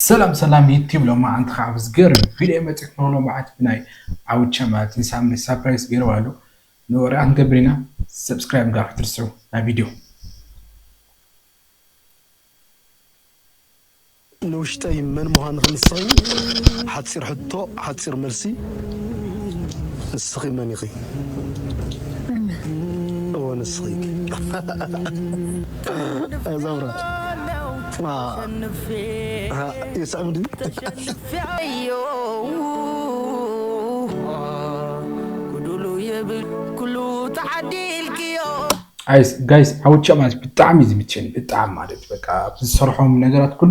ሰላም ሰላም ዩቲብ ሎማዓንቲ ካኣ ብዝገርም ቪድዮ መጺኹ ኣለኹ ሎማዓንቲ ብናይ ዓዉቻ ማለት እዩ ንሳሚ ሳፕራይዝ ገይርዋ ኣሎ ንወረኣ ክንገብር ኢና ሰብስክራይብ ምግባር ክትርስዑ ናብ ቪድዮ ንውሽጠይ መን ምዃንኺ ንስኺ ሓጺር ሕቶ ሓጺር መልሲ ንስኺ መን ኢኺ? መን? እወ ንስኺ። ጋይስ ዓወት ቸባስ ብጣዕሚ እዩ ዝምቸኒ ብጣዕሚ ማለት እዩ በቃ ኣብ ዝሰርሖም ነገራት ኩሉ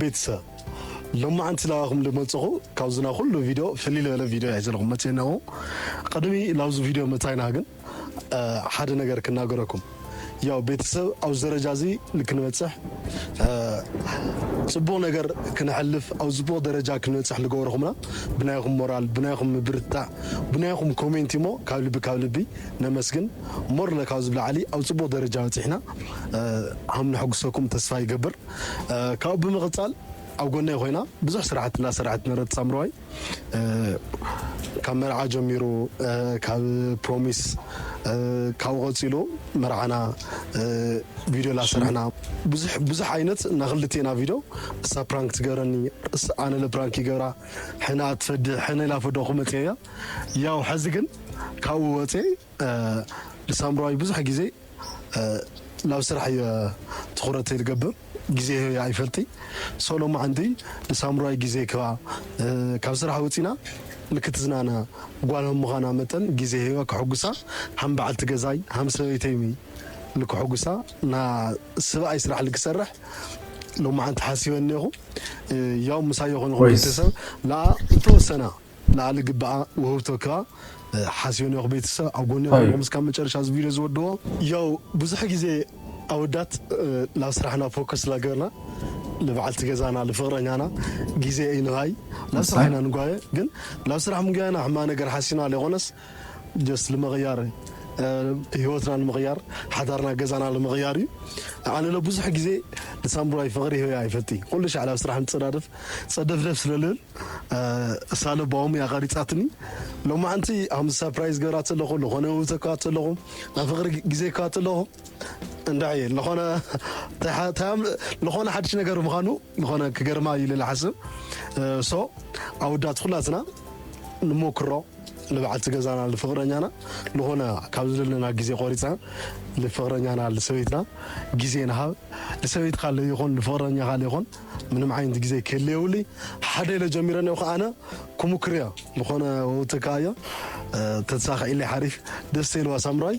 ቤተሰብ ሎማዓንቲ ናባኩም ልመፅኹ ካብዚ ናይ ኩሉ ቪድዮ ፍልይ ልበለ ቪድዮ ናይ ዘለኹም መፅየ እነሆ ቅድሚ ላብዚ ቪድዮ ምእታይና ግን ሓደ ነገር ክናገረኩም ያው ቤተሰብ ኣብዚ ደረጃ እዚ ንክንበፅሕ ፅቡቅ ነገር ክንሐልፍ ኣብ ፅቡቅ ደረጃ ክንበፅሕ ልገበርኹምና ብናይኹም ሞራል ብናይኹም ምብርትታዕ ብናይኹም ኮሜንቲ እሞ ካብ ልቢ ካብ ልቢ ነመስግን ሞር ለካብ ዝብላዓሊ ኣብ ፅቡቅ ደረጃ በፂሕና ሃም ንሐጉሰኩም ተስፋ ይገብር ካብኡ ብምቕፃል ኣብ ጎነይ ኮይና ብዙሕ ስራሕቲ እናሰረሐት ምህረት ሳምረዋይ ካብ መርዓ ጀሚሩ ካብ ፕሮሚስ ካብኡ ቀፂሉ መርዓና ቪድዮ ላሰርሕና ብዙሕ ብዙሕ ዓይነት እና ክልቴና ቪድዮ እሳ ፕራንክ ትገብረኒ ኣነ ለፕራንክ ይገብራ ሕና ትፈድሕ ሕነ ላፈደኹ መፅያ ያው ሕዚ ግን ካብኡ ወፅየ ንሳምራዊ ብዙሕ ግዜ ናብ ስራሕ እየ ትኹረተይ ዝገብር ግዜ ህበያ ኣይፈልጢ ሶ ሎማዓንቲ ንሳምራዊ ግዜ ክባ ካብ ስራሕ ወፂና ንክትዝናና ጓል ሀምዃና መጠን ግዜ ሂበ ክሕጉሳ ሀም ባዓልቲ ገዛይ ሀም ሰበይተይ ልክሕጉሳ ና ስብኣይ ስራሕ ልክሰርሕ ሎማዓንቲ ሓሲበ እኔኹ ያው ምሳዮ ኮንኹ ቤተሰብ ላኣ ልተወሰና ላዕሊ ግብኣ ውህብቶ ክኣ ሓስዮ ኒኦኽ ቤተሰብ ኣብ ጎኒ ኹንኩም እስካብ መጨረሻ እዚ ቪድዮ ዝወድኦ። ያው ብዙሕ ግዜ ኣወዳት ናብ ስራሕና ፎከስ ላገርና ልብዓልቲ ገዛና ልፍቅረኛና ግዜ ኣይንሃይ ናብ ስራሕ ኢና ንጓየ ግን ናብ ስራሕ ምጉያይና ሕማቅ ነገር ሓሲና ለይኾነስ just ንምቕያር ህይወትና ንምቕያር ሓዳርና ገዛና ንምቕያር እዩ ኣነ ለ ብዙሕ ግዜ ንሳምቡራይ ፍቕሪ ህበያ ኣይፈልጥ ኩሉ ሻዕ ናብ ስራሕ ንፀዳድፍ ፀደፍደፍ ስለልብል እሳ ለባኦም እያ ቀሪፃትኒ ሎማዓንቲ ሃምዚ ሰርፕራይዝ ገብራ ተለኹ ዝኾነ ውብተካ ተለኹ ናይ ፍቕሪ ግዜ ካ ተለኹ እንድዒ ልኾነ ልኾነ ሓድሽ ነገር ምዃኑ ልኾነ ክገርማ እዩ ልል ሓስብ ሶ ኣውዳት ኩላትና ንሞክሮ ንበዓልቲ ገዛና ንፍቅረኛና ዝኾነ ካብ ዝደለና ግዜ ቆሪፅና ንፍቅረኛና ንሰበይትና ግዜ ንሃብ ንሰበይትካ ይኹን ንፍቅረኛካ ይኹን ምንም ዓይነት ግዜ ክህል የብሉይ ሓደ ኢለ ጀሚረ እኒኦ ከዓነ ክሙክር እዮ ዝኾነ ወውትካ እዮ ተተሳኪዕለይ ሓሪፍ ደስ ኢልዋ ሳምራይ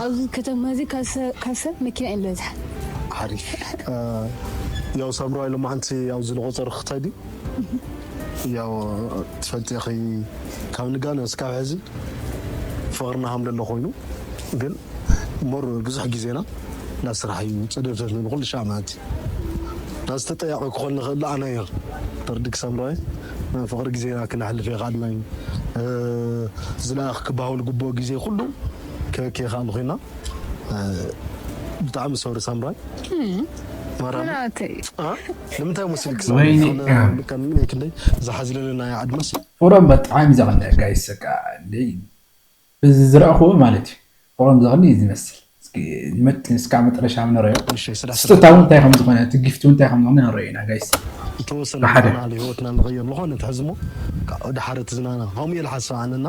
ኣብዚ ከተማ እዚ ካብ ሰብ መኪና ኢዩ ዝበዝሓ። ሓሪፍ ያው ሳምራዋይ ሎማዓንቲ ያው ዝለቆፀሩ ክትከዲ ያው ትፈልጢ ኢኺ ካብ ንጋኖ እስካብ ሕዚ ፍቅርና ሃምለሎ ኮይኑ ግን ሞር ብዙሕ ግዜና ናብ ስራሕ እዩ ፀደብተት ንብል ኩሉ ሻዕ ማዓንቲ ናዚ ተጠያቂ ክኮን ንክእል ኣነ እየ ተርድክ ሳምራዋይ ናይ ፍቅሪ ግዜና ክነሕልፍ የካኣልና እዩ ዝለኣክ ክባሃወል ግቡኦ ግዜ ኩሉ ክክ ኢካ እንኮይና ብጣዕሚ ሶሪ ሳምራይ ንምንታይ ሙስል ክሳክንደይ ዝሓዝለለ ናይ ኣድማስ ፍቅሮም በጣዕሚ ዘቅንእ ጋይስ በቃ ደይ በዚ ዝረእክዎ ማለት እዩ ፍቅሮም ዘቅንእ እዩ ዝመስል እስካብ መጠረሻ ንረዮ ስጦታ እውን እንታይ ከምዝኮነ እቲ ጊፍቲ እውን እንታይ ከምዝኮነ ንረዮ ኢና ጋይስ ብሓደ ዝተወሰነ ህይወትና ንቀይር ንኮነ ትሕዝሞ ድሓር ትዝናና ከምኡ እየ ዝሓስብ ኣነና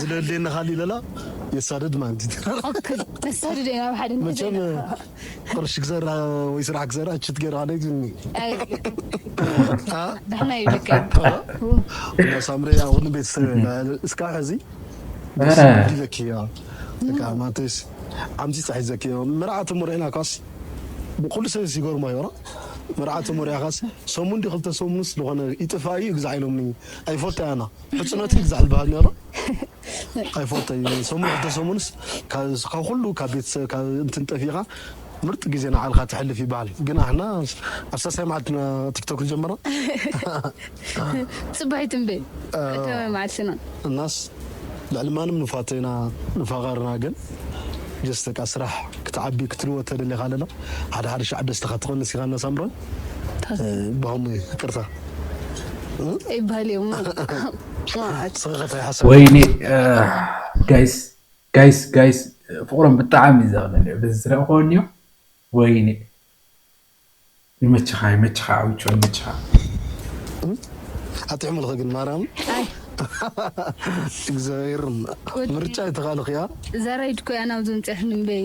ዝደልየኒ ካሊእ ለላ የሳድድ ማለት መቸም ቅርሺ ክዘር ወይ ስራሕ ክዘር ችት ገይረ ካደግኒ ሳምሪ ኣኹን ቤተሰብ እስካ ሕዚ ለኪ ማንተስ ዓምዚ ፀሒ ዘኪ መርዓት ሞሪዕና ካስ ብኩሉ ሰብ ይገርሞ ይራ መርዓት ሞሪያ ካስ ሰሙን ዲ ክልተ ሰሙንስ ዝኾነ ይጥፋ እዩ ግዛዕ ኢሎምኒ ኣይፈልጦ ያና ሕጽኖት እዩ ዝዝሕል በሃሊ ነይሩ ኣይፈልጦይ ሰሙን ክልተ ሰሙንስ ካብ ኩሉ ካብ ቤተሰብ ካብ እንትን ጠፊእኻ ምርጥ ግዜ ንዓልካ ተሕልፍ ይበሃል ግን ኣሕና ኣብ ሳሳይ መዓልቲ ኢና ቲክቶክ ዝጀመርና ፅባሒት እምበ ቀዳማይ መዓልቲ ኢና እናስ ልዕሊ ማንም ንፋቶ ኢና ንፋቐርና ግን ጀስ በቃ ስራሕ ክትዓቢ ክትልወጥ ተደሊኻ ኣለና ሓደ ሓደ ሻዕ ደስታኻ ትቐንስ ኢኻ እናሳምሮን ወይኔ ጋይስ ጋይስ ጋይስ ፍቅሮም ብጣዕሚ እዩ ዘቅልል በዚ ዝረእክዎ እንዮ ወይኔ ይመችኻ ይመችኻ ኣውጮ ይመችኻ ኣቲ ሕሙልኺ ግን ማርያም እግዚኣብሔር ምርጫ ይተኻልኺያ ዘራይ ድኮያ ናብዚ ምፅያት ንበይ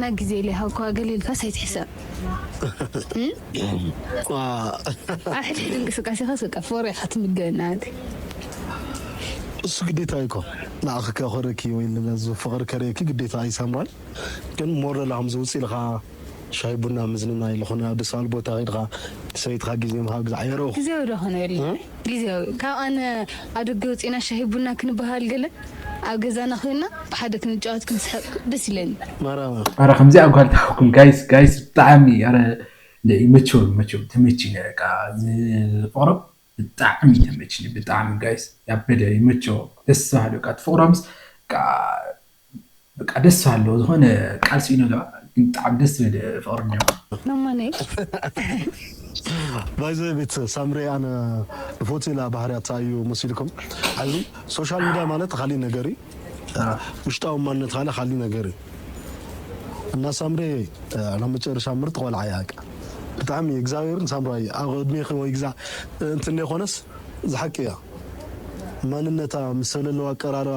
ናይ ግዜ ለይሃብኩዋ ገለ ኢልካስ ኣይትሕሰብ ኣብ ሕድሕድ እንቅስቃሴኻስ በቃ ፎርያ ኢኻ ትምገብ ናሃትይ። እሱ ግዴታ እዩኮ ንኣኺ ከኹርኪ ወይ ንመዙ ፍቅሪ ከርእየኪ ግዴታ እዩ ሳምራይ ግን ሞረላ ከምዚ ውጽእ ኢልኻ ሻሂ ቡና ምዝንናይ ልኾነ ኣብ ደስ ባል ቦታ ከድኻ ንሰበይትኻ ግዜ ምሃብ ዝዓይ ረኡኹ። ግዜዶ ክንብል ግዝያዊ ካብ ኣነ ኣብ ደገ ወጺእና ሻሂ ቡና ክንበሃል ገለ ኣብ ገዛና ኮይና ብሓደ ክንጫወት ክንስሕቅ ደስ ኢለኒ። ማራማ። ኣረ ከምዚኣ ጓል ትሓውኩም ጋይስ ጋይስ ብጣዕሚ ኣረ ይመችወን ይመችወን ተመችዩኒ በቃ ፍቅሮም ብጣዕሚ ተመችዩኒ ብጣዕሚ ጋይስ ያበደ ይመችዎ ደስ በሃሊ በቃ እቲ ፍቅሮምስ በቃ በቃ ደስ ኣሎ ዝኮነ ቃል ስኢኖ ኣለዋ ግን ብጣዕሚ ደስ ትብል ፍቅሪ እንዲኩም። ባይ ዘ ወይ ቤተሰብ ሳምሬ ኣነ ልፎትየላ ባህርያታ እዩ መሲልኩም ሐዚ ሶሻል ሚድያ ማለት ኻሊእ ነገር እዩ ውሽጣዊ ማንነት ካለ ኻሊእ ነገር እዩ እና ሳምሬ ናብ መጨረሻ ምርጥ ቆልዓ እያ በቃ ብጣዕሚ እግዚኣብሔርን ሳምራይ ኣብ ዕድሜኺ ወይ ግዛ እንትን ዘይኾነስ ዝሓቂ እያ ማንነታ ምስ ሰለለዋ ኣቀራርባ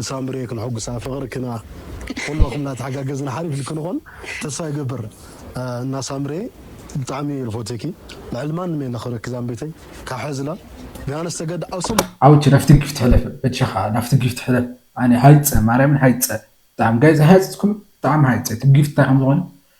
ንሳምርየ ክንሕጉሳ ፍቅርክና ኩለኩም ናተሓጋገዝና ሓሪፍ ልክንኮን ተስፋ ይገብር እና ሳምርየ ብጣዕሚ እየ ልፎትየኪ ልዕሊ ማንም እየ ለክብረኪ ዛምበይተይ ካብ ሐዚ ላብ ቢያነስ ተገዲ ዓው ስም ዓውቼ ናፍቲ ጊፍት ሕለፍ በጃኻ ናፍቲ ጊፍት ሕለፍ ኣነ ሃይጸ ማርያምን ሃይጸ ብጣዕሚ ጋይስ ኣይሃጸጽኩምን ብጣዕሚ ሃይጸ እቲ ጊፍት እንታይ ከምዝኾነ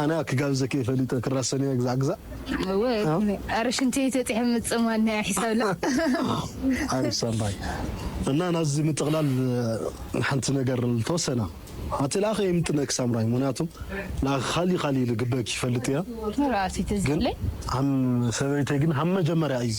ኣነ ኣኪ ጋብዘ ከይ ፈሊጠ ክራሰንያ ግዛዕ ግዛዕ። እወ ኣረ ሽንተይ ተጥሒ ምጽማድ ናይ ሒሳብ ላ ሓሪፍ ሰባይ እና ናዚ ምጥቕላል ሓንቲ ነገር ልተወሰና ኣቲ ላኸ ይምጥነክ ሳምራይ ምክንያቱ ላኸ ካሊ ካሊ ልግበክ ይፈልጥ እያ ግን ኣም ሰበይተይ ግን ሃብ መጀመርያ እዩ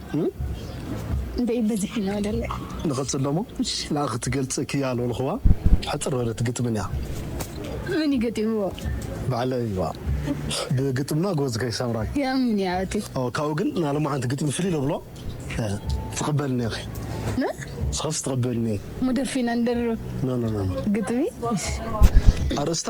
እምበይ በዚሒ ነው ደለ ንቅጽል ደሞ ንኣ ክትገልጽ ክያ ልበልክዋ ሕጽር በለት ግጥምን እያ መን እዩ ገጢምዎ ባዕለ እዩዋ ብግጥምና ጎዝ ከይ ሰምራይ ያምን እያ እቲ ካብኡ ግን ናሎማዓንቲ ግጥሚ ፍልይ ለብሎ ትቅበልኒ ኢኺ ንስኺስ ትቅበልኒ እሞ ደርፊና ንደርብ ኖኖኖ ግጥሚ ኣርእስታ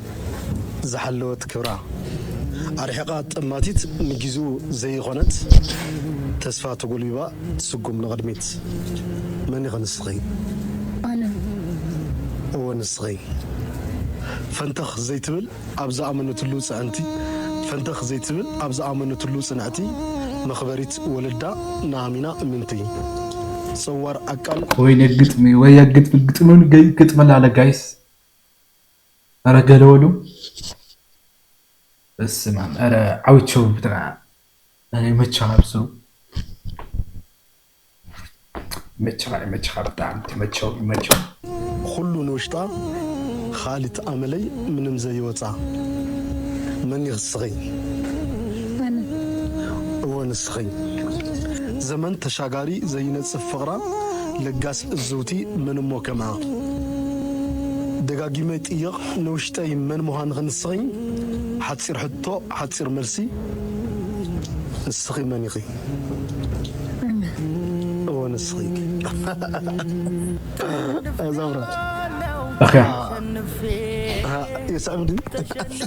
ዝሓለወት ክብራ ኣርሒቓ ጠማቲት ንጊዙ ዘይኾነት ተስፋ ተጎልቢባ ትስጉም ንቕድሚት መን ኢኺ ንስኺ ኣነ እወ ንስኺ ፈንተኽ ዘይትብል ኣብ ዝኣመነትሉ ፅዕንቲ ፈንተኽ ዘይትብል ኣብ ዝኣመነትሉ ፅንዕቲ መኽበሪት ወለዳ ንኣሚና እምንቲ ፀዋር ኣቃል ወይኔ ግጥሚ ወየ ግጥሚ ግጥሚ ውን ገይ ግጥሚ ላለ ጋይስ። ኧረ ገለ በሉ በስማም ኧረ ዓዊቸው ብትራ ኧረ ይመችኻ ኣብ ስሩ ይመችኻ ይመችኻ ብጣዕሚ ትመቸው ይመቸው ኹሉ ንውሽጣ ኻሊት ኣመለይ ምንም ዘይወጻ መን ኢኽ ስኽኝ ኣነ እወ ንስኽኝ ዘመን ተሻጋሪ ዘይነጽፍ ፍቕራ ለጋሲ እዝውቲ መን እሞ ከምኣ ደጋጊመ ይጥየቕ ንውሽጠይ መን ምዃንኺ ንስኺኝ ሓጺር ሕቶ ሓጺር መልሲ ንስኺ መን ኢኺ እወ ንስኺ እኽያ። የስዕብ ድዩ?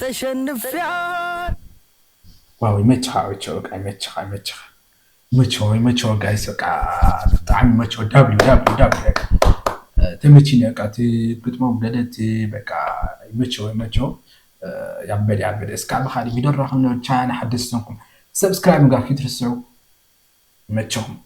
ተሸንፍያ። ዋው ይመችኻ ኦቾ በቃ ይመችኻ ይመችኻ ይመችዎ ይመችዎ ጋይስ በቃ ብጣዕሚ ይመችዎ ዳብሊው ዳብሊው ዳብሊው በቃ ተመችኒ በቃ እቲ ግጥሞም ገለ እቲ በቃ ይመችዎ ይመችዎ ያበደ ያበደ እስካብ ብኻሊእ ቪድዮ ንራኸብ ናብ ቻናለይ ሓደስቲ ዝኾንኩም ሰብስክራይብ ምግባር ከይትርስዑ ይመችኹም።